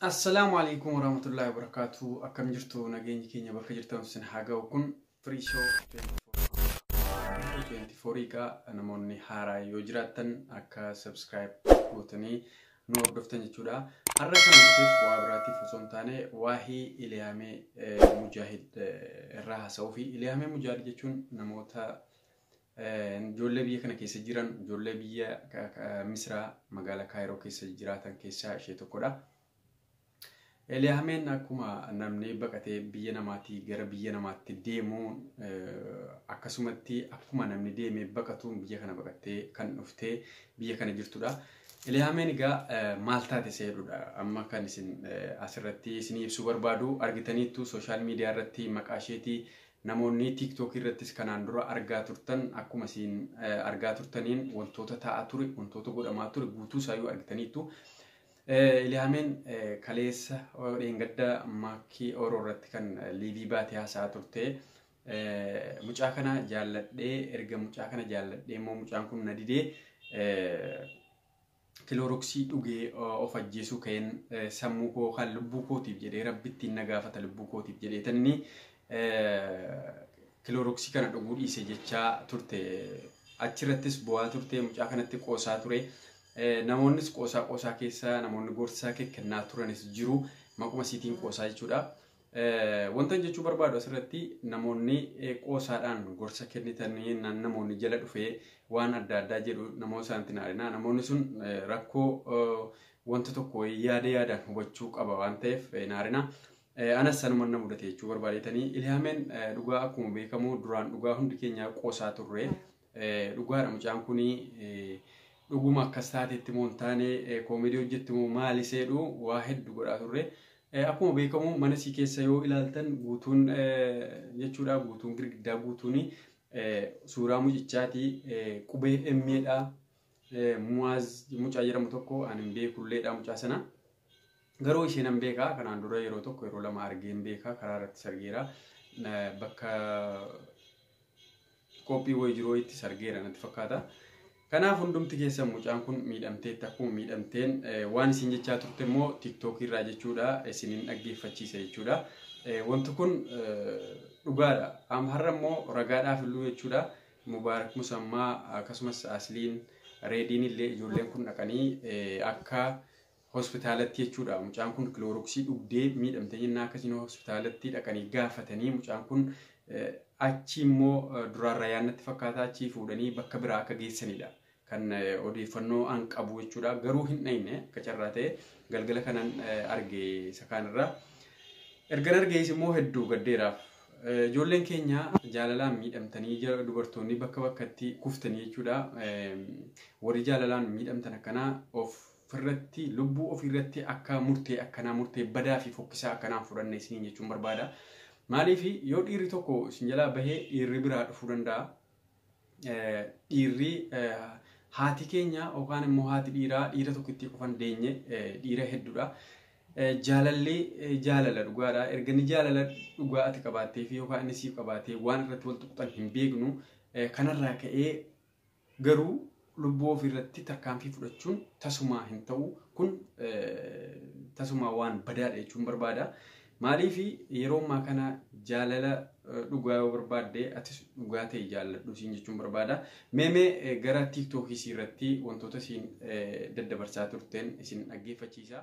Assalaamu alaikum warahmatullahi wabarakatuh. Akkam jirtu nageenyi keenya bakka jirtan sin haa ga'u kun free show 24 egaa namoonni haaraa yoo jiraattan akka subscribe gootanii nu hordoftan jechuudha. Har'a kan dhufeef waa biraatiif osoo hin taane waa'ee Iliyaamee eh, Mujaahid eh, irraa haasa'uu fi Iliyaamee Mujaahid jechuun namoota Ijoollee biyya kana keessa jiran ijoollee biyya Misiraa magaalaa Kaayiroo keessa jiraatan keessaa ishee tokkodha. Eliyaameen akkuma namni baqatee biyya namaatii gara biyya namaatti deemuun akkasumatti akkuma namni deemee baqatuun biyya kana baqattee kan dhuftee biyya kana jirtudha. Eliyaameen egaa maal taate seerudha amma kan isin asirratti isinii ibsuu barbaadu argitaniittu sooshaal miidiyaa irratti maqaa isheetii Namoonni TikTok irrattis kanaan dura argaa turtan akkuma isin argaa turtaniin wantoota ta'aa ture, wantoota godhamaa ture guutuu isaayyuu argitaniittu. Iliyaameen kaleessa dheengadda maakkii Oro irratti kan liivii baatee haasa'aa turte. Mucaa kana jaalladhee erga mucaa kana jaalladhee immoo mucaan kun na didee Kilooroksii dhugee of ajjeesuu ka'een sammuu koo kan lubbuu kootiif jedhee rabbittiin na gaafata lubbuu kootiif jedhee tanni kilooroksii kana dhuguu dhiise jechaa turte. Achirrattis bu'aa turte mucaa kanatti qoosaa ture. Namoonnis qoosaa qoosaa keessa namoonni gorsaa kennaa turanis jiru maquma isiitiin qoosaa jechuudha. Wantan jechuu barbaadu asirratti namoonni qoosaadhaan gorsa kennitanii namoonni jala dhufee waan adda addaa jedhu namoota isaanitti naarinaa namoonni sun rakkoo wanta tokko yaada yaadaan hubachuu qaba waan ta'eef naarinaa. Anas sanuma na mudate jechuu barbaadetanii Ilhaameen dhugaa akkuma beekamu duraan dhugaa hundi keenya qoosaa turre. Dhugaadha mucaan kun dhuguma akkas taateetti moo hin taane koomedii hojjetti moo maali seedhu waa heddu godhaa turre. Akkuma beekamu mana sii keessa yoo ilaaltan guutuun jechuudha guutuun girgiddaa guutuun suuraa mucichaati qubee emmeedha muwaaz mucaa jedhamu tokko ani hin beekulleedha mucaa sana. Garuu isheen hin beekaa kanaan dura yeroo tokko yeroo lama argee hin beekaa karaa irratti sargeera bakka Koppii wayii jiru wayiitti sargeera natti fakkaata. Kanaaf hundumti keessan mucaan kun miidhamteetti akkuma miidhamteen waan isin jechaa turte immoo tiktookii irraa jechuudha isinin dhaggeeffachiisa jechuudha. Wanti kun dhugaadha. Amma har'a immoo ragaadhaaf illuu jechuudha. Mubaarak Musammaa akkasumas Asliin Reediin illee ijoolleen kun dhaqanii akka hospitaalatti jechuudha mucaan kun kilooroksii dhugdee miidhamte jennaa akkasiin hospitaalatti dhaqanii gaafatanii mucaan kun achi immoo duraan rayaannatti fakkaataa achii fuudhanii bakka biraa akka geessanidha. Kan odeeffannoo an qabu jechuudha. Garuu hin dhayne akka carraa ta'e galgala kanan arge isa kaanirra. Ergan argees immoo hedduu gaddeeraaf. Ijoolleen keenya jaalalaan miidhamtanii dubartoonni bakka bakkatti kuftanii jechuudha. Warri jaalalaan miidhamtan akkanaa of ofirratti lubbuu ofiirratti akka murtee akkanaa murtee badaa fi fokkisaa akkanaan fudhanne isiniin jechuun barbaada. Maaliif yoo dhiirri tokko isin jalaa bahee dhiirri biraa dhufuu danda'a. Eh, Dhiirri eh, haati keenya yookaan immoo haati dhiiraa dhiira tokkittii qofa hin deenye eh, dhiira hedduudha. Eh, Jaalalli eh, jaalala dhugaadha. Erga inni jaalala dhugaa ati qabaattee fi yookaan inni siif qabaatee waan irratti wal tuqxan hin beeknu. Eh, Kanarraa ka'ee Garuu lubbuu ofii irratti tarkaanfii fudhachuun tasumaa hin ta'u. Kun tasumaa waan badaadha jechuun barbaada. Maaliif yeroo ammaa kana jaalala dhugaa yoo barbaadde atis dhugaa ta'e jaalladhu siin jechuun barbaada. Meemee gara tiiktookii irratti wantoota siin daddabarsaa turteen isin dhaggeeffachiisa.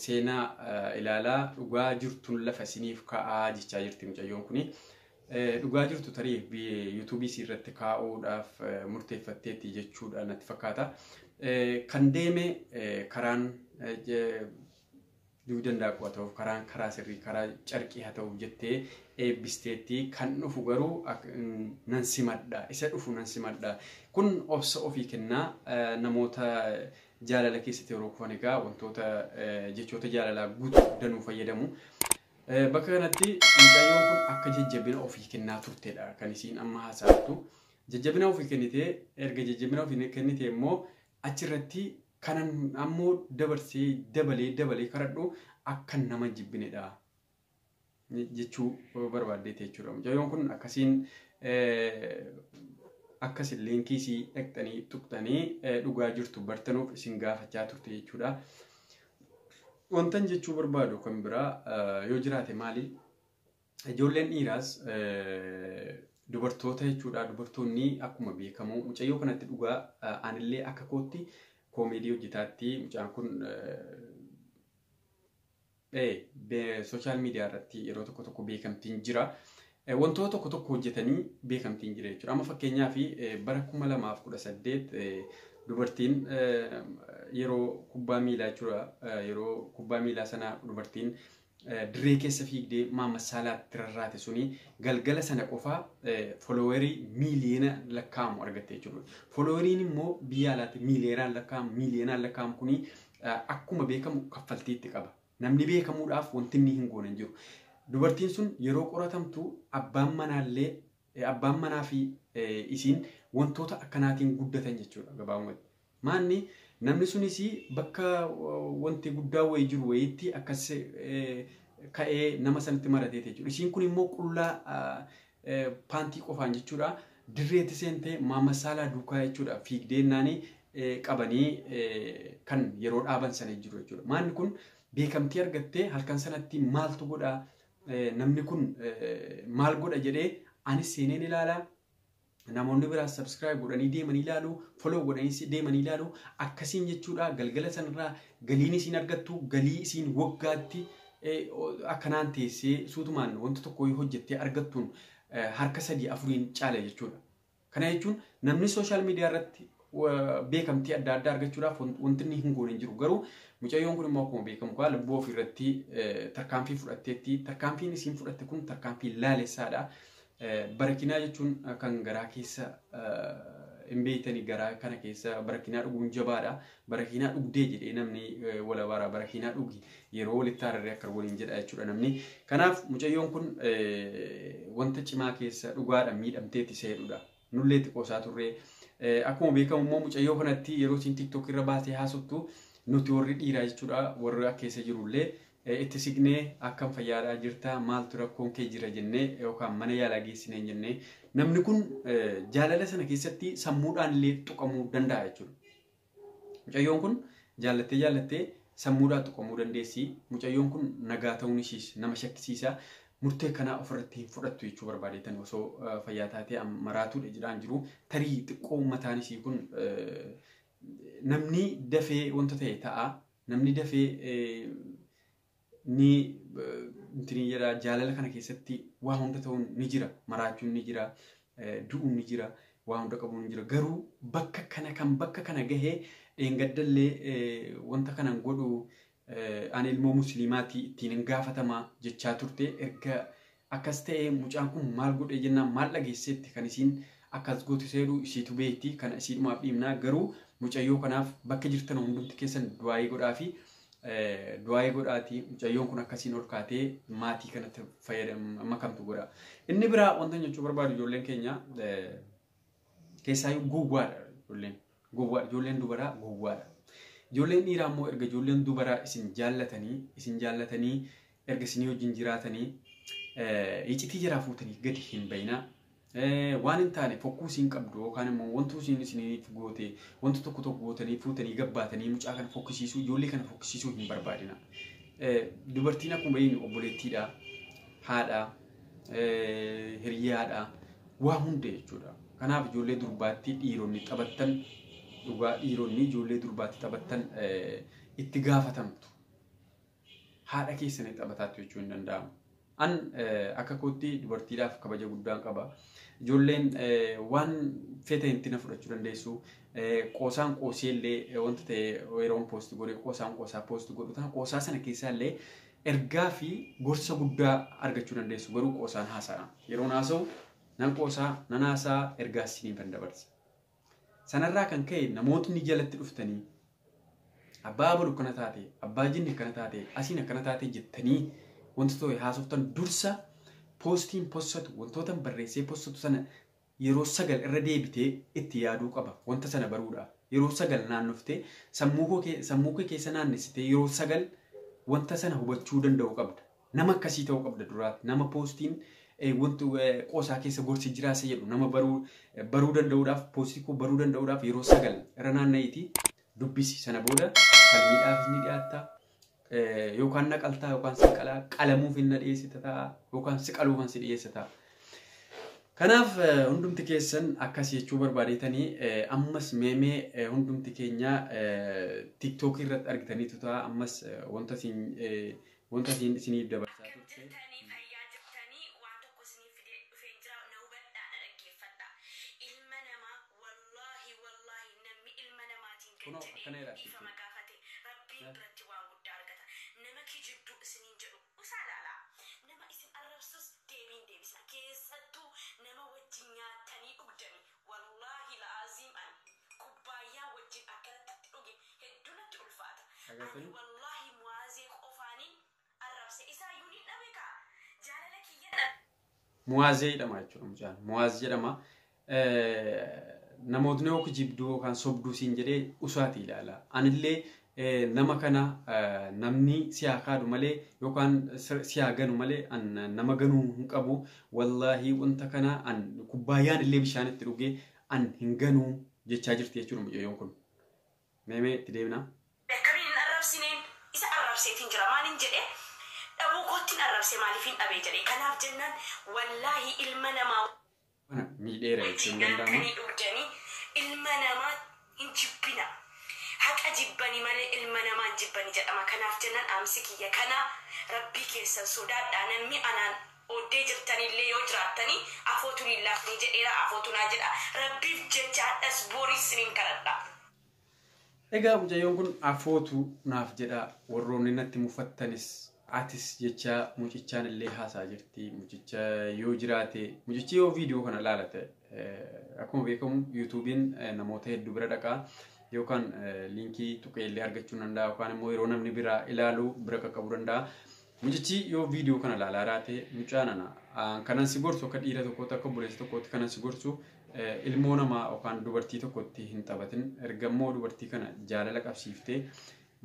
Seenaa ilaalaa dhugaa jirtun lafa isiniif ka'aa jechaa jirti mucayyoon kuni. Dhugaa jirtu tarii yuutuubii isii irratti kaa'uudhaaf murteeffatteetti jechuudha natti fakkaata. Kan deeme karaan dugda daakuu haa ta'uuf karaan karaa sirrii karaa carqii haa ta'uuf jettee eebbisteetti kan dhufu garuu nan simadha isa dhufu nan simadha kun obsa ofii kennaa namoota Jaalala keessatti yeroo kufan egaa wantoota jechoota jaalalaa guutuu danuu fayyadamu. Bakka kanatti mucayyoon kun akka jajjabina ofii kennaa turtedha kan isiin amma haasa'attu. Jajjabina ofii kennitee erga jajjabina ofii kennitee immoo achirratti kanan ammoo dabarsee dabalee dabalee kadhadhu akka nama jibbinedha. jechuu barbaaddeeti jechuudha. Mucayyoon kun akkasiin akkasiin liinkii isii dhaqxanii tuqxanii dhugaa jirtu bartanuuf isin gaafachaa turte jechuudha. Wantan jechuu barbaadu kan biraa yoo jiraate maali? Ijoolleen dhiiraas dubartoota jechuudha. Dubartoonni akkuma beekamu mucayyoo kanatti dhugaa anillee akka kootti koomeedii hojjetaatti mucaan kun Social media irratti yeroo tokko tokko beekamtiin jira. Wantoota tokko tokko hojjetanii beekamtiin jira jechuudha. Amma fakkeenyaaf bara 2018 dubartiin yeroo kubbaa miilaa jechuudha. Yeroo kubbaa miilaa sana dubartiin dirree keessa fiigdee Maamad Saalaatti rarraate suni galgala sana qofa foloowerii miiliyoona lakkaa'amu argatte jechuudha. Folooweriin immoo biyya alaatti miiliyoonaan lakkaa'amu miiliyoonaan lakkaa'amu kuni akkuma beekamu kaffaltii itti qaba. Namni beekamuudhaaf wanti inni hin goone hin jiru. Dubartiin sun yeroo qoratamtu abbaan manaallee abbaan manaa fi isiin wantoota akkanaatiin guddatan jechuudha gabaabumatti. Maanni namni sunis bakka wanti guddaa wayii jiru wayiitti akkas ka'ee nama sanatti marateeti jechuudha. Isiin kun immoo qullaa paantii qofaan jechuudha. Dirreetti seentee Maamad Saalaa duukaa jechuudha fiigdeennaanii qabanii kan yeroo dhaaban sana jiru jechuudha. Maanni kun beekamtii argattee halkan sanatti maaltu godha namni kun maal godha jedhee anis seeneen ilaala. Namoonni biraas subscribe godhanii deemanii ilaalu, follow godhanii deemanii ilaalu. Akkasiin jechuudha galgala sanarraa galiin isiin argattu galii isiin waggaatti akkanaan teessee suutumaan wanta tokko yoo hojjettee argattuun harka sadii afuriin caala jechuudha. Kana jechuun namni sooshaal miidiyaa irratti beekamtii adda addaa argachuudhaaf wanti inni hin goone hin jiru. Garuu mucayyoon kun immoo akkuma beekamu kaa lubbuu ofii irratti tarkaanfii fudhatteetti. Tarkaanfiin isiin fudhatte kun tarkaanfii laalessaadha. Barakinaa jechuun kan garaa keessa hin beektani garaa kana keessa barakinaa dhuguun jabaadha. Barakinaa dhugdee jedhee namni wala bara barakinaa dhugi yeroo walitti haararee akka waliin jedha jechuudha namni. Kanaaf mucayyoon kun wanta cimaa keessa dhugaadha miidhamteeti seedudha. Nullee itti qoosaa turre. Akkuma beekamu immoo mucayyoo kanatti yeroo isin tiktok irra baatee haasoftu nuti warri dhiiraa jechuudha warri akka keessa jirullee itti siqnee akkam fayyaadhaa jirta maaltu rakkoon kee jira jennee yookaan mana yaalaa geessinee jennee namni kun jaalala sana keessatti sammuudhaan illee tuqamuu danda'a jechuudha. Mucayyoon kun jaallattee jaallattee sammuudhaa tuqamuu dandeessi. Mucayyoon kun nagaa ta'uun ishiis nama shakkisiisa. Murtee kanaa ofirratti hin fudhattu jechuu barbaadeetan osoo fayyaa taatee maraatuudha jedhaan jiru. Tarii xiqqoo mataan isii kun namni dafee wanta ta'e ta'a. Namni dafee ni intini jedha jaalala kana keessatti waa hunda ta'uun ni jira maraachuun ni jira du'uun ni jira waa hunda qabuun ni jira garuu bakka kana kan bakka kana gahee dheengaddallee wanta kanan godhu ani ilmoo musliimaati ittiin hin gaafatama jechaa turte erga Akkas ta'ee mucaan kun maal godhee jennaan maal dhageesseetti kan isiin akkas gootu seedhu isiitu beekti kana isiidhumaaf dhiibnaa garuu mucayyoo kanaaf bakka jirtan hundumti keessan du'aayii godhaa fi du'aayii godhaati mucayyoon kun akkasiin ol kaatee maatii kanatti fayyadam makamtu godha. Inni biraa wanta jechuu barbaadu ijoolleen keenya Keessaayyuu gowwaadha ijoolleen. Gowwaadha ijoolleen dubaraa gowwaadha. Ijoolleen dhiiraa immoo erga ijoolleen dubaraa isin jaallatanii isin jaallatanii erga isinii wajjin jiraatanii eh, icitii jaraa fuutanii gadi hin bayinaa. Eh, Waan hin taane fokkuu isin qabdu yookaan immoo wantuu isin isiniif goote wanta tokko tokko gootanii fuutanii gabbaatanii mucaa kana fokkisiisuu ijoollee kana fokkisiisuu hin barbaadina. Eh, Dubartiin akkuma beeknu obboleettiidha. Haadha. hiriyaadha waa hunda jechuudha. Kanaaf ijoollee durbaatti dhiironni taphattan dhugaa dhiironni ijoollee durbaatti taphattan itti gaafatamtu. Haadha keessanii taphataattu jechuu hin danda'amu. An akka kootti dubartiidhaaf kabaja guddaan qaba. Ijoolleen waan fete hinti na fudhachuu dandeessu. Qoosaan qoosee illee wanta ta'e yeroon poosti godhe qoosaan qoosaa poosti godhu ta'a. Qoosaa sana keessaa illee Ergaa fi gorsa guddaa argachuu dandeessu garuu qoosaan haasa'aa. Yeroon haasa'u nan qoosaa, nan haasa'aa, ergaas isiniifan dabarsa. Sanarraa kan ka'e namootni jalatti dhuftanii abbaa abalu akkana taate, abbaa jinni akkana taate, asiin akkana taate jettanii wanta ta'e haasoftan dursa poostiin possatu wantootan barreessee possatu sana yeroo sagal irra deebitee itti yaaduu qaba. Wanta sana baruudhaaf. Yeroo sagal naannoftee sammuu koo kee- sammuu kee keessa naannessitee yeroo sagal wanta sana hubachuu danda'uu qabda. Nama akkasii ta'uu qabda duraati. Nama poostiin eh, wantu eh, qoosaa keessa gorsi jiraasa jedhu nama baruu eh, baruu danda'uudhaaf poostii koo baruu danda'uudhaaf yeroo sagal irra naanna'iitii dubbisi. Sana booda falmiidhaafis ni dhiyaatta. Eh, yookaan na qaltaa yookaan sin qalaa qalamuuf hin na dhiyeessita ta'a yookaan si qaluufan si dhiyeessa ta'a. Kanaaf eh, hundumti keessan akkas jechuu barbaadeetanii eh, ammas meemee eh, hundumti keenya tiktookii irratti argitaniitu ta'a ammas eh, wanta isin eh, wanta isin isiniif dabarsaa Akkam turte. jirtanii fayyaa jirtanii waan tokko isiniif fidee dhufeen jira na hubadhaa na dhaggeeffadha ilma namaa Wallaahi wallaahi namni ilma namaatiin gad Kunoo jedhee akkana jedha achitti. dhiifama gaafate Rabbiin Eh. biratti waan guddaa argata. Nama kijibduu isiniin jedhu usaa laalaa. Nama isin arrabsus deebii hin deebisina. Keessattuu nama wajjin nyaattanii dhugdanii. Wallaahi la'aziim ani kubbaayyaa wajjin akkanatti itti dhuge hedduu natti ulfaata. Dhageettanii? Ani wallaahi Mu'aazee qofaaniin arrabse isaayyuu nin dhabe kaa jaalala kiyya dhabe. Muwaazee jedhama jechuudha mucaan. Muwaaz jedhama. Namootni yoo kijibduu yookaan sobduu siin jedhee usaati ilaala. Anillee nama kana namni siyaa kaadhu malee yookaan siyaa ganu malee an nama ganuu hin qabu. Wallaahi wanta kana an kubbaayyaan illee bishaan itti dhugee an hin ganuu jechaa jirti jechuudha mucayyoon kun. Mee mee itti deebinaa. Akkamiin hin arrabsineen isa arrabseetiin jira maalin jedhee dhabuu koottin arrabse maaliifin dhabee jedhee kanaaf jennaan wallaahii ilma namaa Kana miidheera jechuun wajjin danda'ama. nyaatanii dhugdanii ilma namaa hin jibbina haqa jibbani malee ilma namaa hin jibbani jedhama kanaaf jennaan dhaamsi kiyya kanaa rabbii keessan sodaadhaa namni anaan Oddee jirtaniillee yoo jiraattanii afootu niin laafnii jedheera afootu naa jedha rabbiif jecha hadhas boris sinin kadhadha. Egaa mucayyoon kun afootu naaf jedha warroonni natti mufattanis atis jechaa mucichaan illee haasaa jirti mucicha yoo jiraate mucichi yoo viidiyoo kana laala ta'e eh, akkuma beekamu yuutuubiin eh, namoota hedduu bira dhaqa yookaan eh, liinkii tuqee illee argachuu danda'a yookaan immoo yeroo namni biraa ilaalu bira qaqqabuu danda'a. Mucichii yoo video kana laalaa raate mucaa nana kanan si gorsu akka dhiira tokkootti akka obboleessa tokkootti kanan si gorsu ilmoo namaa yookaan dubartii tokkotti hin taphatin erga immoo dubartii kana jaalala qabsiiftee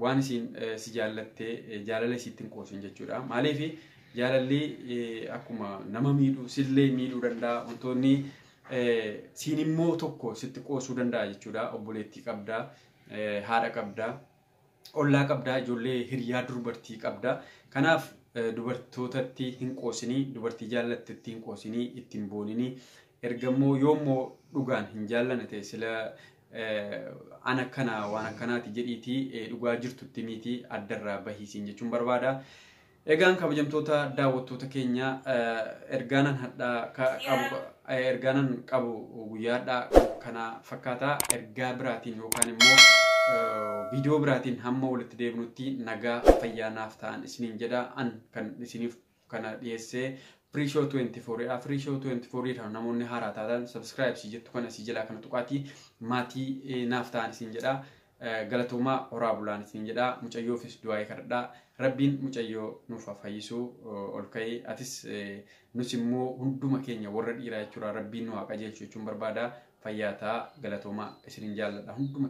waan isiin si jaallattee jaalala isiitti hin qoosin jechuudha. Maaliif jaalalli akkuma nama miidhu sillee miidhuu danda'a wantoonni siin immoo tokko sitti qoosuu danda'a jechuudha. Obboleettii qabda haadha qabda ollaa qabdaa, ijoollee hiriyaa durbartii qabdaa. Kanaaf dubartootatti hin qoosinii, dubartii jaallattetti hin qoosinii, itti hin booninii. Erga immoo yoo immoo dhugaan hin jaallane ta'e sila an akkana waan akkanaati jedhiitii dhugaa jirtutti miitii addarraa bahiisiin jechuun barbaada. Egaan kabajamtoota daawwattoota keenya ergaanan hadhaa qabu ergaanan qabu guyyaa hadhaa kana fakkaata ergaa biraatiin yookaan immoo viidiyoo biraatiin hamma walitti deebinutti nagaa fayyaa naaf ta'an isiniin jedha an kan isiniif kana dhiyeessee Firishow 24 dha. Firishow 24 dha. Namoonni haaraa taatan subscribe si jettu kana si jalaa kana tuqaatii maatii naaf ta'an isin jedha. Galatoomaa horaa bulaan isin jedhaa mucayyoofis du'aa'ee kadhadhaa rabbiin mucayyoo nuuf haa fayyisuu ol ka'ee atis nus immoo hunduma keenya warra dhiiraa jechuudha rabbiin nu haa qajeelchu jechuun barbaada fayyaa ta'a galatoomaa isinin jaalladha hunduma